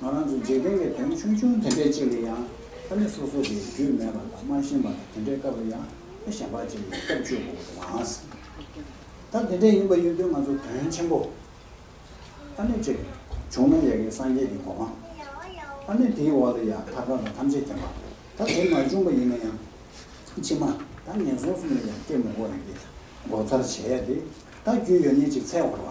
ང་རང་ཚོས་འཇིག་རྟེན་གྱི་དོན་ཆུང་ཆུང་དེ་འདྲའི་ཅིག་ལ་ཡང་ཕ་མེས་སོ་སོ་དེ་རྒྱུས་མེད་པ་དང་མ་ཤེས་པ་དང་དེ་འདྲའི་སྐབས་ལ་ཡང་ཕ་ཞེན་པ་ཅིག་ལ་སྐྱབས་བཅོལ་དགོས་པ་དེ་མ་ཟད། ད་དེ་འདྲས་ཡིན་པ་ཡིན་དུས་ང་ཚོ་དོན་ཆེན་པོ་ཨ་མེས་ཅིག་བྱུང་ན་ཡག་གི་སངས་རྒྱས་ཀྱི་གོ་འཕང་ཨ་མེས་དེའི་འོག་ལ་ཡང་ཐབས་ལ་དང་ཐམས་ཅད་མཁྱེན་པ་ད་དེ་མ་བྱུང་པ་ཡིན་ན་ཡང་ཕྱི་མ་ད་ངན་སོང་གསུམ་ལ་ཡང་སྐྱེ་མི་དགོས་རིགས་ཀྱི་མགོ་མཚར་བྱས་ཏེ་ད་རྒྱུས་ཡོད་ཉེས་ཅིག་འཚལ་བར་བ།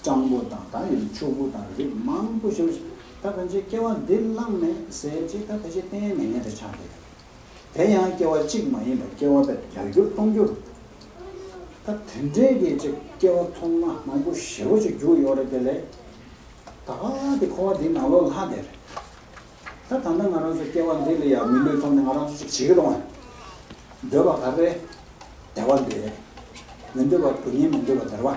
སྤྲང་པོ་དང་ད་ཡོད་ཕྱུག་པོ་དང་རིགས་མང་པོ་ཞིག་ད་ཕན་ཆད་སྐྱེ་བ་འདི་བླངས་ནས་ཟས་ཅི་ད་ཕལ་ཆེར་གཏན་ནས་ངན་པའི་ཆ་མེད། དེ་ཡང་སྐྱེ་བ་གཅིག་མ་ཡིན་པར་སྐྱེ་བ་དེར་བརྒྱ་འགྱུར་སྟོང་འགྱུར་འདུག་ད་དེ་འདྲའི་སྐད་ཅིག་སྐྱེ་བ་ཐོག་མ་མང་པོ་ཞེ་བོ་ཅིག་རྒྱུགས་ཡོད་རེད་དེ་ལས་ད་བ་དེ་འཁོར་བ་འདིའི་ནང་ལོག་ལྷ་དེར་ད་ད་ལྟ་ང་རང་ཚོ་སྐྱེ་བ་འདི་ལ་ཡང་མི་ལུས་ཐོབ་ནས་ང་རང་ཚོ་ཅིག་བྱེད་ཀྱི་རུང་བས་འདོད་པ་ག་རེ་བདེ་བ་འདི་རེད་མི་འདོད་པ་དུ་ཉེ་མི་འདོད་པ་དེར་བ།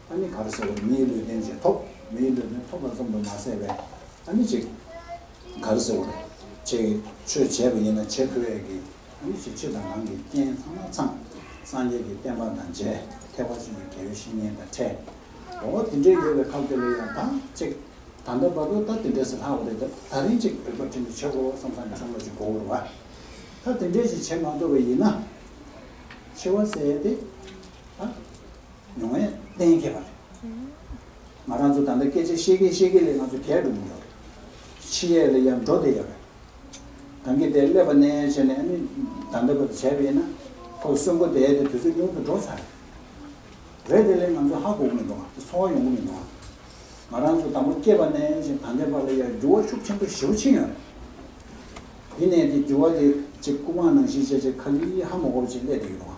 ཨ་ནི་ག་རེ་ཟེར་བ་མིའི་ལུས་རྟེན་ཅིང་ཐོབ། མིའི་ལུས་རྟེན་ཐོབ་ལ་ཙམ་དུ་མ་ཟད་པས་ཨ་ནི་ཅིག། ག་རེ་ཟེར་བ། ཅེས་ཆོས་འཆད་པ་ཡིན་ན་ཆེ་ཁོལ་བས་ཀྱི། ཨ་ནི་ཅིག་ཕྱི་དང་ནང་གི་རྐྱེན་ཚང་མ་ཚང། སངས་རྒྱས་ཀྱི་བསྟན་པ་དང་མཇལ་ཐེག་པ་ཅན་གྱི་དགེ་བའི་བཤེས་གཉེན་དང་ཕྲད། འོ་དེ་འདྲའི་ཡོད་པའི་ཁ་དེ་ལ་ཡང་དང་ཅིག། ད་ལྟ་བར་དུ་ད་དེ་འདྲས་སུ་ལྷག་བ་རེད་ད་ད་རིང་ཅིག་རིག་པ་དྲིན་གྱིས་ཆོད་གོ་བསམ་བསམ་གྱིས་བསམ་བློ་ཅིག་གོ་བུར་བ། ད་དེ་འདྲས་ཅིག་བྱེད་མ་ཐུབ་པ་ཡིན་ན། འཆི་བ་ཟད་དེ། ཨ། མྱོང་བས་གཏན་འཁེལ་བ་རེད། ང་རང་ཚོ་ད་ལྟ་སྐད་ཆ་བཤད་གིན་བཤད་གིན་ལས་ང་ཚོ་གས་འགྲོ་གིན་ཡོད་རེད། ཕྱི་ཡས་ལ་ཡར་འགྲོ་བསྡད་ཡོད་རེད། གངས་སྐྱིད་དེ་སླེབས་པ་ནས་བྱས་ནས་ནི་ད་ལྟ་བར་དུ་བྱས་པ་ཡིན་ན། ཁོ་གསོན་པོ་དེ་དེ་དུས་ཚོད་ཉུང་དུ་འགྲོ་ཚར་རེད། རེད་དེ་ལས་ང་ཚོ་ཧ་གོ་གི་མི་འདུག་ག་དེ་འཚོ་བ་ཡོང་གི་མི་འདུག་ག། ང་རང་ཚོ་དང་པོ་སྐྱེས་པ་ནས་བྱས་ད་ལྟའི་བར་ལ་ཡར་འགྱུར་བ་ཤུགས་ཆེན་པོ་ཞི་བོ་ཕྱིན་ཡོད་རེད། དེ་ནས་དེ་འགྱུར་བ་དེ་ཅིག་སྐུ་པང་ནང་བཞིན་བྱས་བྱས་ཁ་ལི་ཧ་མོ་གོ་བྱས་སླེབས་བསྡད་ཡོད་འདུག་ག།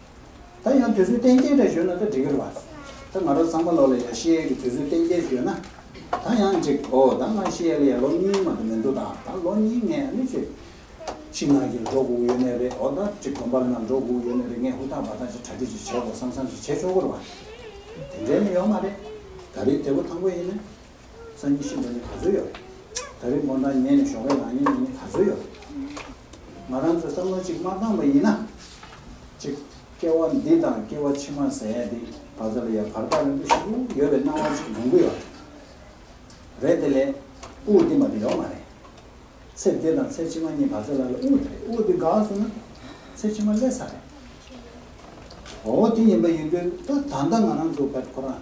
ད་ཡང་དུས་ཚོད་གཏན་འཁེལ་འདྲ་ཞུས་ན་ད་འགྲིག་གི་རེད་བ། ད་ང་རང་ཚང་མ་ལོ་ལ་ཡང་ཤེས་ཡས་ཀྱི་དུས་ཚོད་གཏན་འཁེལ་ཞུས་ན་ད་ཡང་འགྲིག་གོ་ད་ང་ཤེས་ཡས་ལ་ཡང་ལོ་གཉིས་མ་ད་མི་འདུག་ད་ད་ལོ་གཉིས་ངས་ཨ་ནུ་ཆོས་ཕྱི་ནང་གི་འགྲོ་སྒུག་ཡོད་ནི་རེད་འོ་ད་ཅིག་དགོན་པ་ལ་ནང་འགྲོ་སྒུག་ཡོད་ནི་རེད་ངས་ཧུར་ཐག་འབའ་ཐག་ཅིག་གྲ་སྒྲིག་ཅིག་བྱེད་དགོས་བསམ་བསམ་ཅིག་བྱེད་ཆོག་གི་རེད་བ། དེ་འདྲའི་ནི་ཡོད་མ་རེད། ད་རེས་དེ་པོ་དང་པོ་ཡིན་ནི། སང་ཉིན་ཤི་འགྲོ་ནི་ག་ཚོད་ཡོད། ད་རེས་དགོང་གྲངས་ཉལ་ནས་ཞོགས་པའི་ལག་གཉིས་ན་ནི་ག་ཚོད་ཡོད། ང་རང་ཚོའི་བསམ་བློ་གཅིག་མ་བཏང་བ་ཡིན་ན། གཅིག་སྐྱེ་བ་འདི་དང་སྐྱེ་བ་ཕྱི་མ་ཟེར་ཡ་འདི་ག་ཚོད་ལ་ཡ་བར་ཐག་རིང་པོ་ཞིག་ཏུ་ཡོད་པའི་སྣང་བ་གཅིག་ཡོང་གི་ཡོད། རེད་དེ་ལས་དབུགས་འདི་མ་དེ་ཡོད་མ་རེད། ཚེ་འདི་དང་ཚེ་ཕྱི་མ་གཉིས་ག་ཚོད་ལ་ལ་དབུགས་དེ་རེད་དབུགས་འདི་འགགས་སོང་ན་ཚེ་ཕྱི་མ་སླེབས་ས་རེད། འོ་དེ་ཡིན་པ་ཡིན་དུས་ད་ད་ལྟ་ང་རང་ཚོ་བལ་ཁོ་རང།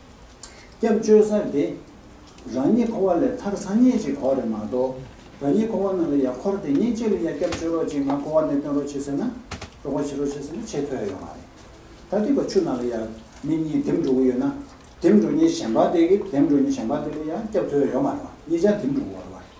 སྐྱབས་བཅོལ་གསར་དེ། རང་ཉིད་འཁོར་བ་ལས་ཐར་ཚར་ཉེན་ཅིག་གོ་རེད་མ་གཏོགས། རང་ཉིད་འཁོར་བ་ནང་ལ་ཡ་འཁོར་དེ་ཉེན་ཅིག་ལ་ཡ་སྐྱབས་བཅོལ་རོགས་གཅིག་ང་འཁོར་བ་ནས་བཏོན་རོགས་བྱེད་ཟེར་ན། རོགས་པ་བྱེད་རོགས་བྱེད་ཟེར་ན་བྱེད་ཐོས་ཡོང་བ་རེད། ད་ལྟའི་བར་ཆུ་ནང་ལ་ཡ་མི་གཉིས་འདེམས་འགྲོ་གི་ཡོད་ན། འདེམས་འགྲོ་ཉེན་གཞན་པ་དེ་གི་འདེམས་འགྲོ་ཉེན་གཞན་པ་དེ་ལ་ཡ་སྐྱབས་ཐོས་ཡོང་བ་རེད་བ་གཉིས་ཆ་འདེམས་འགྲོ་གི་ཡོད་རེད་བ།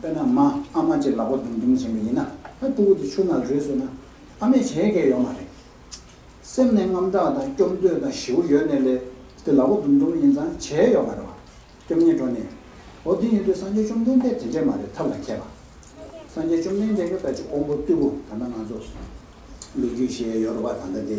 དཔེར་ན་མ་ཨ་མ་བཅས་ལག་པ་རྡུང་རྡུང་བྱེད་མི་ཡིན་ན་ད་སྤྲུལ་སྐུ་དེ་ཆུ་ནག་རུས་སུ་ན་ཨ་མས་བྱས་སྐལ་ཡོད་མ་རེད། སེམས་ནས་རྔམ་སྐྲག་དང་སྐྱོབ་འདོད་དང་ཞེའུ་ཡོད་ནས་ལས་དེ་ལག་པ་རྡུང་རྡུང་ཡིན་ཙང་བྱས་ཡོད་མ་རེད་བ། སྐྱོབ་ཉེས་འགྲོ་ནས། འོ་དེ་ཡིན་དུས་སངས་རྒྱས་བཅོམ་ལྡན་འདས་དེ་འདྲས་མ་རེད་ཐབས་ལ་མཁས་པ། སངས་རྒྱས་བཅོམ་ལྡན་འདས་ཀྱང་ད་ཅི་ཀོང་པོ་རྟུལ་པོ་ད་ལྟ་ང་ཚོ་ལོ་རྒྱུས་ཞེས་ཡོད་རུ་བ་ད་ལྟ་དེ།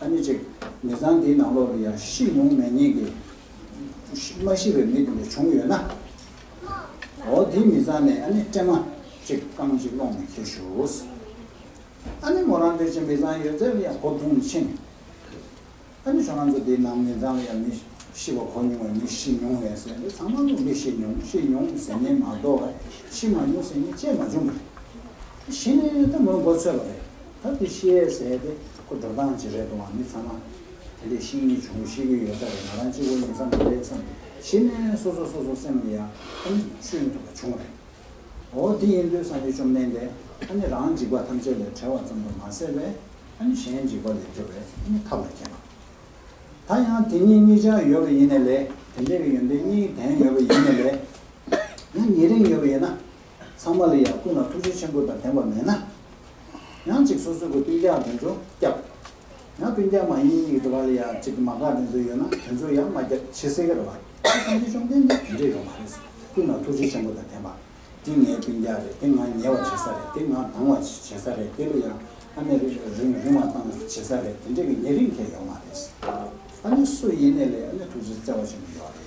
ཨ་ནི་ཅིག། མི་ཚང་འདིའི་ནང་ལོགས་ཀྱི་ཡང་ཤི་མྱོང་མེད་ཉེས་ཀྱི། མ་ཤི་བའི་མི་དེ་འདྲ་བྱུང་ཡོད་ན། འོ་དེའི་མི་ཚང་ནས་ཨ་ནི་ཀྲེང་མ། ཅིག་རྐང་གཅིག་སློང་མི་ཁེལ་ཞུགས། ཨ་ནི་མོ་རང་འདིར་ཅིག་མི་ཚང་ཡོད་ཚད་ལ་ཡང་གོ་བསྡུང་མི་བྱེད་ནས། ཨ་ནི་ཁྱོད་རང་ཚོ་འདིའི་ནང་མི་ཚང་ལ་ཡང་མི་ཤི་བ་གོ་མྱོང་བའི་མི་ཤི་མྱོང་ཡོད་ཟེར་འདི་ཚང་མ་ལོག་མི་ཤི་མྱོང་ཤི་མྱོང་ཟེར་ཉེན་མ་གཏོགས་ཤི་མ་མྱོང་ཟེར་ཉེན་བཅད་མ་བྱུང། ཤི་ནས་ད་མོའི་མགོ་ཚོས་པ་རེད། ཐབས་དེ་ཤེས་ཡས་ཟད་དེ་ཁོ་འགྲོ་སྟངས་ཇི་རེད་དུའང་མི་ཚང་མ་དེ་ལས་ཤིག་གཉིས་བྱུང་ཤེས་ཀྱི་ཡོད་ས་རེད་ང་རང་གཅིག་བུ་ཡིན་ས་མ་རེད་བསམ་གཞི་ནས་སོ་སོ་སོ་སོ་སེམས་ཀྱི་ཡང་ཐམས་ཅད་ཆུད་ཐུབ་པ་བྱུང་རེད། འོ་དེ་ཡིན་དུས་ས་ཆུ་བཅོམ་ལྡན་འདས་ཨ་ནི་རང་འཇིགས་པ་ཐམས་ཅད་ལས་བྲལ་བ་ཙམ་དུ་མ་ཟད་པས་ཨ་ནི་གཞན་འཇིགས་པ་ལས་སྐྱོབ་པའི་ཨ་ནི་ཐབས་ལ་མཁས་པ། ད་ཡང་དེ་གཉིས་གཉིས་ཆ་ཡོད་པ་ཡིན་ནས་ལས་དེ་འདྲས་ཀྱི་ཡོན་ཏན་གཉིས་ལྡན་ཡོད་པ་ཡིན་ནས་ལས། ཡང་ཉེ་རིང་ཡོད་པ་ཡིན་ན་ཚང་མ་ལ་ཡང་ཀུན་ལ་ཐུགས་རྗེ་ཆེན་པོ་དང་ལྡན་པ་མེད་ན། ཡང་ཅིག་སོ་སོའི་གི་སྤུན་རྒྱག་དེ་ཚོ་བསྐྱབ། ཡང་སྤུན་རྒྱག་མ་ཡིན་གི་འགྲོ་བ་ལ་ཡང་ཅིག་གི་མ་བཀག་དེ་ཚོ་ཡོད་ན་དེ་ཚོ་ཡང་མ་བསྐྱབ་ཕྱི་གསལ་ག་རེ་བ། ཁྱེད་བསམ་གྱི་བཅོམ་ལྡན་འདས་དེ་འདྲས་ཡོད་མ་རེད་ཟེར་ཀུན་ལ་ཐུགས་རྗེ་ཆེན་པོ་དང་ལྡན་པ། འདི་ངའི་སྤུན་རྒྱག་རེད་དེ་ང་ཉལ་བ་བྱེད་ས་རེད་དེ་ང་ལྡང་བ་བྱེད་ས་རེད་དེ་ལོ་ཡང་ཨ་མས་རིང་རིང་བ་བཏང་བྱེད་ས་རེད་དེ་འདྲས་གི་ཉེ་རིང་མཁན་ཡོད་མ་རེད་ཟེར། ཨ་ནེ་སུ་ཡིན་ནས་ལས་ཨ་ནེ་ཐུགས་རྗེ་བརྩེ་བ་ཆེན་པོ་ཡོད་རེད།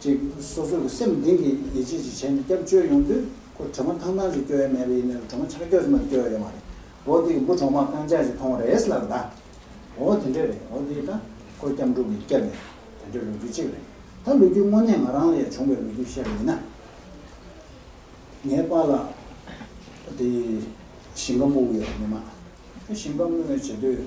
ཅིག་སོ་སོ་གི་སེམས་གཏིང་གི་ཡིད་ཆེས་ཅིག་བྱས་ནས་སྐྱབས་བཅོལ་ཡོང་དུས་ཁོ་གྲོ་མ་ཐང་ཐང་ཞིག་སྐྱོ་ཡ་མེད་པ་ཡིན་ནའི་གྲོ་མ་ཆག་སྐྱོ་ཟེར་མ་ཏི་སྐྱོ་ཡ་ཡོད་མ་རེད་འོ་དེ་གི་འབུ་གྲོག་མ་རྐང་ཆག་ཅིག་ཐོང་བ་རེད་ལབ་ད་འོ་དེ་འདྲས་རེད་འོ་དེ་ད་ཁོ་སྐྱབས་འགྲོ་གི་སྐྱབས་ཡ་དེ་འདྲས་ལོ་རྒྱུས་ཅིག་རེད་ད་ལོ་རྒྱུས་དངོས་གནས་ང་རང་ལ་ཡ་བྱུང་བའི་ལོ་རྒྱུས་བཤད་པ་ཡིན་ན་ངའི་པ་ལ་དེ་ཞིང་ཁ་སྨུག་ཡོད་རེད་མི་མ་ཞིང་ཁ་སྨུག་ཡོད་བྱེད་དུས།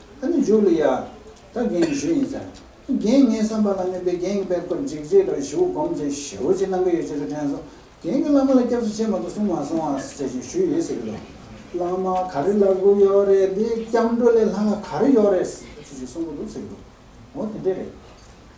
ཨ་ནི་འཇུག་ལ་ཡ། ད་རྒན་བཞུགས་ཡིན་ཟེར། རྒན་ངའི་བསམ་པ་ལ་གནོད་པའི་རྒན་གྱི་པད་ཁོ་འཇིགས་བྱེད་དང་བཞུགས་སྒོམ་ཚེ་ཞེའུ་ཅི་གནང་གི་ཡོད་ཅེས་རེ་དྲན་སོང། རྒན་གྱིས་བླ་མ་ལ་སྐྱབས་སུ་མཆི་མ་དུ་གསུང་མ་སོང་ཨ་ཟེར་བཞིན་ཞུས་ཡོད་ཟེར་གྱི་འདུག། བླ་མ་ག་རེ་ལབ་དགོས་ཡོད་རེད་དེ་སྐྱབས་འགྲོ་ལས་སླ་ལ་ག་རེ་ཡོད་རེད། ཅེས་གསུང་གི་འདུག་ཟེར་གྱི་འདུག། འོ་དེ་འདྲས་རེད།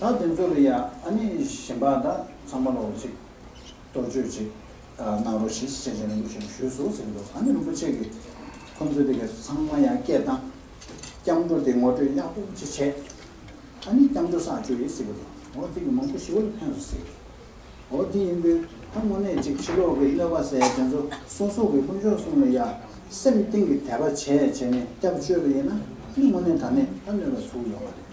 ད་དེ་ཚོ་ལ་ཡང་ཨ་ནི་གཞན་པ་དང་ཚང་མ་ལོག་ཅིག་དོར་གཅོད་ཅིག་གནང་རོགས་ཞེས་སྤྱན་ཆ་རིན་པོ་ཆེ་ཞུས་སོ་ཟེར་གྱི་འདུག་ཨ་ནི་རིན་པོ་ཆེ་གིས་ཁོ་ཚོ་དེ་ག་ཚང་མ་ཡང་སྐད་བཏང། སྐྱབས་འགྲོ་དེ་ངོ་སྤྲོད་ཡག་པོ་ཅིག་བྱས། ཨ་ནི་སྐྱབས་འགྲོ་བསགས་བཅོས་ཡིན་ཟེར་གྱི་འདུག་འོ་དེ་གི་མང་པོ་ཞི་བར་ཕན་སོ་ཟེར་གྱི་འདུག་འོ་དེ་ཡིན་དུས་ད་དངོས་གནས་ཅིག་ཕྱི་ལོག་གི་གནོད་པ་ཟེར་དེ་ཚོ་སོ་སོ་གི་དཀོན་མཆོག་སྲུང་ལ་ཡ་སེམས་གཏིང་གི་དད་པ་བྱས་བྱས་ནས་སྐྱབས་བཅོས་པ་ཡིན་ན་ནི་དངོས་གནས་ད་ནས་ད་གནོད་པ་ཚུགས་ཡོང་བ་རེད།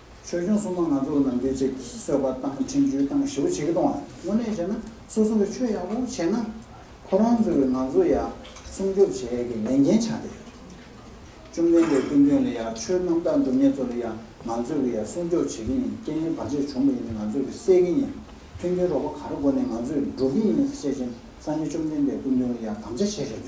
ཆོས་སྐྱོང་སྲུང་མ་ང་ཚོ་ལ་ནམ་རྒྱུན་ཅེག་གིས་གསོལ་བ་བཏང་ཕྲིན་བཅོལ་བཏང་ཞེ་བོ་བྱེད་ཀི་གཏོང་ཨ། དངོས་གནས་བྱས་ན་སོ་སོ་གི་ཆོས་ཡག་པོ་བྱས་ན་ཁོ་རང་ཚོ་གི་ང་ཚོ་ཡག་སྲུང་སྐྱོབ་བྱས་གི་ལས་འགན་ཆགས་ཏེ་ཡོད། བཅོམ་ལྡན་འདས་ཀུན་དོན་ལ་ཡག་ཆོས་རྣམ་དག་འགྲུབ་ངེད་ཚོ་ལ་ཡག་ང་ཚོ་གི་ཡག་སྲུང་སྐྱོབ་བྱེད་ཀི་ཡིན་སྐྱེ་ཡོན་བར་ཆད་བྱུང་བ་ཡིན་ན་ང་ཚོ་གི་སེལ་གི་ཡིན་མཐུན་རྐྱེན་རོགས་པ་ག་རེ་སྒོ་ནས་ང་ཚོས་འགྲོ་གི་ཡིན་ཟེར་བྱས་ཅན་སངས་རྒྱས་བཅོམ་ལྡན་འདས་ཀུན་དོན་ལ་ཡག་དམ་བཅའ་བྱས་བྱས་ཡོད།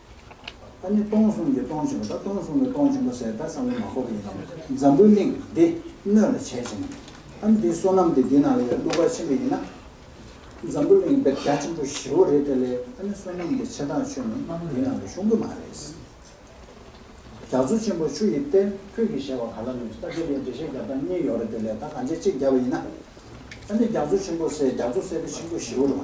ཨ་ནི་སྟོང་གསུམ་གྱི་སྟོང་བྱོན་པ་དང་སྟོང་གསུམ་གྱི་སྟོང་བྱོན་པ་ཟེར་ད་གསང་བའི་མ་ཁོག་ཡིན་ནམ་འཛམ་བུའི་གླིང་འདི་སྣོད་ལ་བྱེད་ཅིང། ཨ་ནི་དེའི་བསོད་ནམས་དེ་འདི་ན་ལ་ཡོད་གླུ་གར་ཆེན་པོ་ཡིན་ན། འཛམ་བུའི་གླིང་བེར་རྒྱ་ཆེན་པོ་བཞི་བོ་རེད་དེ་ལས་ཨ་ནི་བསོད་ནམས་འདི་ཆེ་ཐག་ཆོད་ནི་འདི་ན་ལ་ཤོང་གི་མ་རེད། རྒྱ་མཚོ་ཆེན་པོ་ཆུ་ཡི་གཏེར་ཁྱོད་ཀྱིས་བཞེས་བ་ག་ལ་ནུས་ད་དེ་ལས་འགྲེལ་བཤད་རྒྱབ་སྟངས་གཉིས་ཡོད་རེད་དེ་ལས་ད་གང་བྱེད་གཅིག་རྒྱབ་པ་ཡིན་ན། ཨ་ནི་རྒྱ་མཚོ་ཆེན་པོ་སེ་རྒྱ་མཚོ་སེ་བེ་ཆེན་པོ་བཞི་བོ་རེད་བ།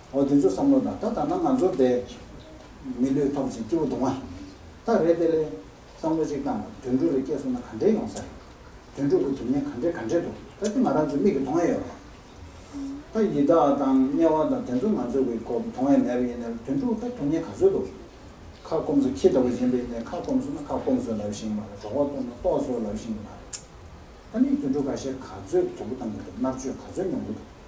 འོ་དེ་ཚོ་བསམ་བློ་དང་ད་ད་ནང་ང་ཚོ་དེ་མི་ལུས་ཐོག་ཅིག་སྐྱེ་བོ་དུང་བ་ད་རེད་དེ་ལས་བསམ་བློ་ཅིག་བཏང་ན་དུད་འགྲོ་རེ་སྐྱེ་སོང་ན་ག་འདྲེ་ཡོང་ས་རེད་དུད་འགྲོ་གི་དུས་ངན་ག་འདྲེ་ག་འདྲེ་འདུག་ད་དེ་ང་རང་ཚོའི་མིག་གི་མཐོང་བས་ཡོད་རེད་ད་ཡི་དྭགས་དང་དམྱལ་བ་དང་དེ་ཚོ་ང་ཚོ་གི་མཐོང་བས་མེད་པ་ཡིན་ན་དུད་འགྲོ་ད་དུང་ངན་ག་ཚོད་འདུག་ཁ་སྐོམ་སོ་ཁྱི་ལྟ་བུ་ཡིན་པ་ཡིན་ན་ཁ་སྐོམ་སོང་ན་ཁ་སྐོམ་སོ་ལབ་བཞིན་ཡོད་མ་རེད་གྲོགས་པོ་ལྟོགས་ན་ལྟོགས་སོ་ལབ་བཞིན་ཡོད་མ་རེད་ད་ནི་དུད་འགྲོ་ག་ཤེད་ག་ཚོད་དུད་འགྲོ་བཏང་གི་འདུག་མནར་གཅོད་ག་ཚོད་མྱོང་གི་འདུག།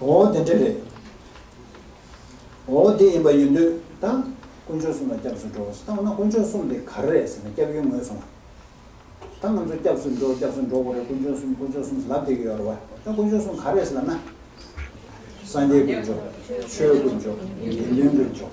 ཨོ་དེ་འདྲ་རེད། ཨོ་དེ་ཡིན་པ་ཡིན་དུས་ད་དཀོན་མཆོག་གསུམ་ལ་སྐྱབས་སུ་འགྲོ་ཟེར་ད་འོ་ན་དཀོན་མཆོག་གསུམ་དེ་ག་རེ་རེད་ཟེར་ན་སྐྱབས་ཡུལ་ངོས་སོང་ད་ང་ཚོ་སྐྱབས་སུ་འགྲོ་སྐྱབས་སུ་འགྲོ་གོ་རེ་དཀོན་མཆོག་གསུམ་དཀོན་མཆོག་གསུམ་ལབ་བསྡད་ཀྱི་ཡོད་རེད་བ་ད་དཀོན་མཆོག་གསུམ་ག་རེ་ཟེར་ལབ་ན། སངས་རྒྱས་དཀོན་མཆོག། ཆོས་དཀོན་མཆོག། དགེ་འདུན་དཀོན་མཆོག།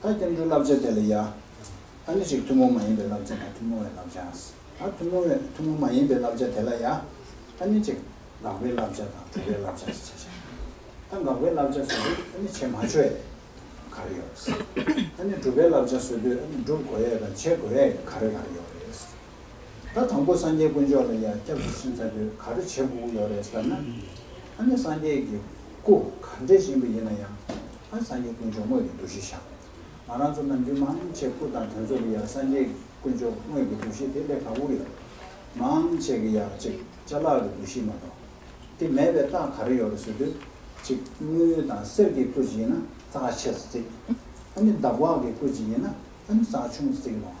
ད་སྐྱབས་འགྲོའི་བསླབ་བྱ་དེ་ལ་ཡ། ད་ནི་རིགས་ཐུན་མོང་མ་ཡིན་པའི་བསླབ་བྱ་དང་ཐུན་མོང་བའི་བསླབ་བྱ། ད་ཐུན་མོང་བའི་ཐུན་མོང་མ་ཡིན་པའི་བསླབ་བྱ་དེ་ལ་ཡ། ད་ནི་གཅིག། དགག་པའི་བསླབ་བྱ་དང་གྲུབ་པའི་བསླབ་བྱ་ཞེས་བྱ། ད་དགག་པའི་བསླབ་བྱ་བཟོད་དུས་ཨ་ནི་བྱེད་མ་ཆོད་ཡས་གར་ཡོད། ད་ནི་གྲུབ་པའི་བསླབ་བྱ་བཟོད་དུས་ཨ་ནི་བསྒྲུབ་དགོས་ཡས་དང་བྱེད་དགོས་ཡས་གར་ཡོད། ད་དང་པོ་སངས་རྒྱས་དཀོན་མཆོག་ལ་ཡང་སྐྱབས་སུ་ཕྱིན་ཚར་དུས་ག་རེ་བྱེད་དགོས་ཀྱི་ཡོད་རེད་ཟེར་ན། ཨ་ནི་སངས་རྒྱས་ཀྱི་སྐུ་ག་འདྲའི་ཞིམ་པོ་ཡིན་ན་ཡང་ཨ་སངས་རྒྱས་དཀོན་མཆོག་དངོས་ཀྱི་འདུ་ཤེས་བཞག་ང་རང་ཚོ་ནམ་རྒྱུན་མང་ཆེ་སྐུ་དང་དོན་ཚོགས་ཀྱི་ཡང་སངས་རྒྱས་དཀོན་མཆོག་དངོས་ཀྱི་འདུ་ཤེས་དེ་ལས་ལྷག་པོ་ཡོད་མང་ཆེ་གི་ཡང་ཅིག་བཅའ་ལག་གི་འདུ་ཤེས་མ་གཏོགས་དེ་མེད་པའི་རྟགས་ག་རེ་ཡོད་རེད་ཟེར་དུས་ཅིག་དངུལ་དང་གསེར་གྱི་སྐུ་ཅིག་ཡིན་ན་རྩ་ཆེ་སར་བརྩིགས་ཨ་ནི་འདབ་བག་གི་སྐུ་ཅིག་ཡིན་ན་ཨ་ནི་རྩ་ཆུང་སར་བརྩིགས་ལོང།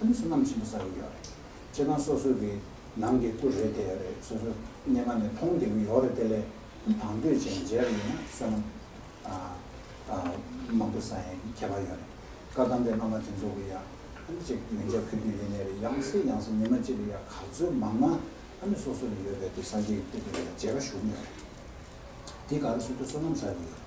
ཨ་ནི་སོ་ནམ་ཆེན་པོ་ཟ་གི་ཡོད་རེད། ཁྱེད་རང་སོ་སོ་གི་ནང་གི་སྐུ་རེད་དེ་ཡོད་རེད་སོ་སོ་སྙེ་མ་ནས་མཐོང་བསྡད་གི་ཡོད་རེད་དེ་ལས་ཨ་དང་དུས་ཆེན་མཇལ་གི་ཡོད་ན་སོ་ནམ་མང་པོ་ཟ་ཡན་གི་ཁྱད་པར་ཡོད་རེད་བཀའ་གདམས་པའི་བླ་མ་དེ་ཚོ་གི་ཡ་ཨ་ནི་ཅིག་མི་འཇབ་ཁུལ་དུ་ཡེ་ནས་རེད་ཡང་སྲིད་ཡང་སྲིད་མི་མ་ཅིག་གི་ཡ་ག་ཚོད་མང་ན་ཨ་ནི་སོ་སོ་ལ་ཡོད་པའི་དུས་ས་སྐྱའི་དུས་དེ་ལ་མཇལ་ཁ་ཞུགས་ཡོད་རེད་དེ་ག་རེ་སོ་དུས་སོ་ནམ་ཟ་གི་ཡོད་རེད།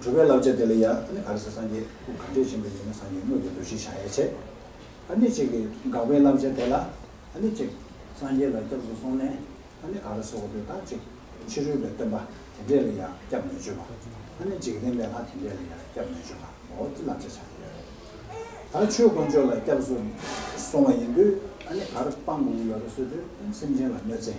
གྲུབ་པའི་བསླབ་བྱ་དེ་ལ་ཡང་ཨ་ནི་ག་རེ་ཟེར་སངས་རྒྱས་སྐུ་གང་འདྲས་བྱིན་པ་ཡིན་ན་སངས་རྒྱས་དངོས་ཀྱི་འདུ་ཤེས་བྱ་ཡ་བྱེད། ཨ་ནི་གཅིག་གིས་དགག་པའི་བསླབ་བྱ་དེ་ལ་ཨ་ནི་གཅིག། སངས་རྒྱས་ལ་སྐྱབས་སུ་སོང་ནས་ཨ་ནི་ག་རེ་ཟེར་བ་དེ་དག་གཅིག། ཕྱི་རོལ་པའི་སྟོན་པ་དེ་འདྲས་ལ་ཡང་སྐྱབས་མི་བཅོལ་བ། ཨ་ནི་འཇིག་རྟེན་པའི་ལྷ་དེ་འདྲས་ལ་ཡང་སྐྱབས་མི་བཅོལ་བའོ་ཅི་བསླབ་བྱ་བྱ་ཡ་ཡོད་རེད། ད་ཆོས་དཀོན་མཆོག་ལ་སྐྱབས་སུ་སོང་བ་ཡིན་དུས་ཨ་ནི་གར་སྤངས་དགོས་ཀྱི་ཡོད་རེད་བསོད་དུས་སེམས་ཅན་ལ་གནོད་འཚེ།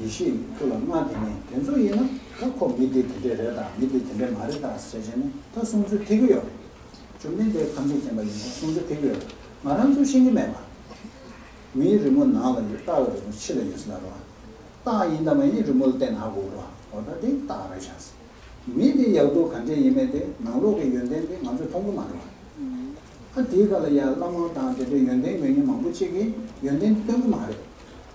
ཡེ་ཤེས་ནི་ཁྱོད་ལ་མངའ་དེ་ནས་དེ་ཚོ་ཡིན་ན་ད་ཁོ་མི་དེ་དེ་འདྲས་རེད་དང་མི་དེ་དེ་འདྲས་མ་རེད་དང་ཟེར་བྱས་ནས་ད་གསུང་ཚུལ་ཐེག་གི་ཡོད་རེད། ཇོ་མི་འདྲས་ཐམས་ཅད་མཁྱེན་པ་ཡིན་ན་གསུང་ཚུལ་ཐེག་གི་ཡོད་རེད་ང་རང་ཚོས་ཤེས་ཀྱི་མེད་པ། མིའི་རི་མོ་ནང་ལ་ཡོད་སྟག་ལ་རི་མོ་ཕྱི་ལ་ཡོད་ཟེར་ན་རོ། སྟག་ཡིན་དང་མ་ཡིན་རི་མོ་ལ་བལྟས་ན་ཧ་གོ་རོ། འོ་ད་དེ་སྟག་རེད་བྱ་སྲིད། མི་དེ་ཡག་སྡུག་ག་འདྲས་ཡིན་མིན་དེ་ནང་ལོག་གི་ཡོན་ཏན་དེ་ང་ཚོས་མཐོང་གི་མ་རེད་བ། ཨ་དེའི་ཁ་ལ་ཡ་བླ་མ་དང་དེ་འདྲས་ཡོན་ཏན་ཡོད་ཉེན་མང་པོ་གཅིག་གིས་ཡོན་ཏན་དེ་སྟོན་གི་མ་རེད།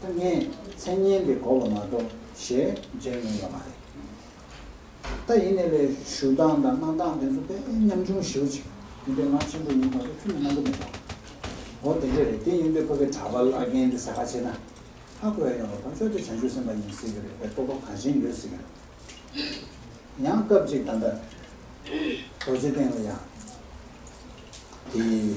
ཐ་སྙད་མཚན་སྙན་དེ་གོ་བ་མ་གཏོགས་ཞེས་བརྗོད་ངེས་ཡོད་མ་རེད། ད་ཡིན་ནས་ལས་ཞུ་སྟངས་དང་གནང་སྟངས་དེ་ཚོ་དཔེ་ཉམས་ཆུང་ཞིའུ་ཅིག་ཡིན་པའི་ངག་ཆེན་པོ་ཡིན་མ་གཏོགས་ཆུ་མིག་སྣ་མདོ་མེད་པ། འོ་དེ་འདྲས་རེད་དེ་ཡིན་དུས་ཁོ་པའི་གྲྭ་པ་བླ་རྒན་དེ་ཟ་ཁ་བྱེད་ན་ཧ་གོ་ཡ་ཡོང་བ་དང་ཅོ་དེ་བྱང་ཆུབ་སེམས་པ་ཡིན་སྲིད་གི་རེད་པའི་སྤོབས་པ་གང་བཞིན་ཡོད་སྲིད་གི་རེད། ཡང་སྐབས་ཅིག་ད་ལྟ་རྡོ་རྗེ་སྟེང་ལ་ཡང་དེའི།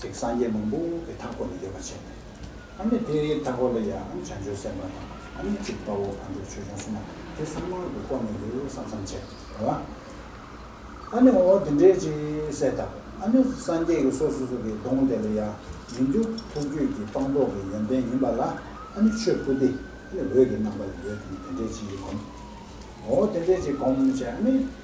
ཅིག་སངས་རྒྱས་མང་པོ་གི་མཐའ་སྐོར་ལ་ཡོད་པར་བྱས་ནས། ཨ་ནི་དེའི་མཐའ་སྐོར་ལ་ཡང་ཨ་ནི་བྱང་ཆུབ་སེམས་དཔའ་དང་ཨ་ནི་གཅིག་དཔའ་བོ་ཁ་འགྲོ་ཆོས་སྐྱོང་གསུམ་མ་དེ་གསང་སྔགས་ཀྱི་སྐོར་ནས་ཡོད་བསམ་བསམ་བྱས་པ་ལ། ཨ་ནི་འོ་དེ་འདྲའི་ཅི་སེ་ད་ཨ་ནི་སངས་རྒྱས་ཀྱི་སོ་སོ་སོ་གི་གདོང་དེ་ལ་ཡང་མི་འགྱུར་ཐུགས་རྒྱུད་ཀྱི་སྤངས་རྟོགས་ཀྱི་ཡོན་ཏན་ཡིན་པ་ལ་ཨ་ནི་ཆོས་སྐུ་དེ་ཨ་ནི་འོད་ཀྱི་རྣམ་པ་ལ་ཡོད་དེ་ནི་དེ་འདྲའི་ཅི་ཡིས་བསྒོམ། འོ་དེ་འདྲའི་ཅི་བསྒོམ་བྱས་ཨ་ནི།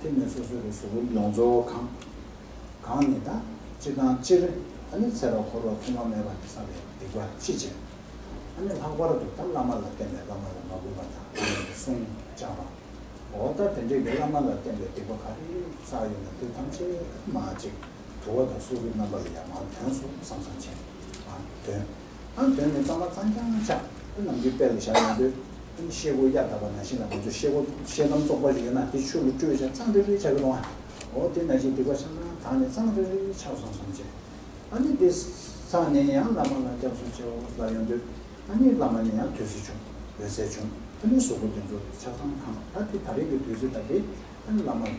དེ་ནས་སོ་སོ་རེ་ཟུང་གི་ཡོངས་རྫོགས་གང། གང་ནི་ད་ཅི་དང་སྤྱིར་ཨ་ནི་ཚེ་རབས་འཁོར་བ་ཁུངས་མ་མེད་པ་ནས་བསམ་པའི་སྡིག་པ་ཅི་བྱས། ཨ་ནི་ལྷག་པར་དུ་ད་བླ་མ་ལ་བརྟེན་པའི་བླ་མ་ལ་མ་གུས་པ་དང་བླ་མའི་གསུང་བཅག་པ། འོ་ད་དེ་འདྲའི་གི་བླ་མ་ལ་བརྟེན་པའི་སྡིག་པ་ག་རེ་ཟག་ཡོད་ན་དེ་ཐམས་ཅད་མ་ཅིག་དུ་བ་དང་སོ་སོའི་རྣམ་པ་ལ་ཡང་མ་དོན་སོགས་བསམ་བསམ་བྱས། ཨ་དོན། ཨང་དོན་ནི་གཙང་མ་གཙང་རྐྱང་ཆགས་ཨེ་ནམ་གྱི་དཔེ་ལ་བཞག་ཡོང་དུས། ཨིན་ཤེལ་སྒོ་གཡའ་དག་པ་ན་བཞིན་ལ་ང་ཚོས་ཤེལ་སྒོ་ཤེལ་དམ་བཙོག་པ་ཞིག་ཡོད་ན་དེ་ཆུ་ལ་བཀྲུས་བྱ་གཙང་རེ་རེ་ཆགས་ཀྱི་རུང་ཨ། འོ་དེ་ན་གཞི་སྡིག་པ་ཆགས་ན་དག་ནི་གཙང་རེ་རེ་ཆགས་སོང་བསམ་བྱས། ཨ་ནི་འདི་ཚང་ནས་ཡང་བླ་མ་ལ་སྐྱབས་སུ་མཆིའོ་ལབ་ཡོང་དུས། ཨ་ནི་བླ་མ་ནི་ཡང་དུས་ཚོད་བྱུང་འོད་གསལ་བྱུང་ཨ་ནི་གཟུགས་པོ་འདི་ཚོ་ཆགས་སྟངས་གང་ཨ་དེ་ད་རེས་ཀྱི་དུས་ཚོད་ལྟ་དེ་ཨ་ནི་བླ་མ་རེད།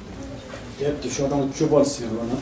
དེབ་ཀྱི་ཤོག་གྲངས་བཅུ་པར་ཟིན་རོགས་གནང།